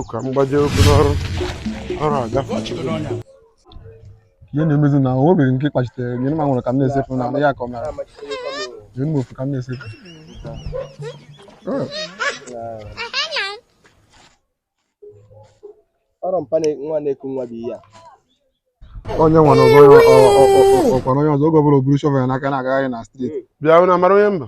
ka m gbaje okwu n'ọrụ ọrụ agafe ihe na-emezi na o nwere nke kpachitere nye m nwere ka m na-esefu na ya ka ọ mara nye m ofu ka m na-esefu ọrụ mpa nwa na-eku nwa bụ ihe a onye nwa na ọkwa onye ọzọ oge ọbụla o buru shovel ya n'aka na-agagharị na street bịa na-abara onye mba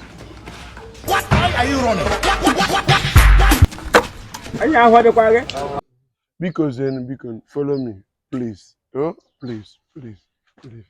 anyị ahụ adịkwa gị biko zenu biko follow me please oh please please please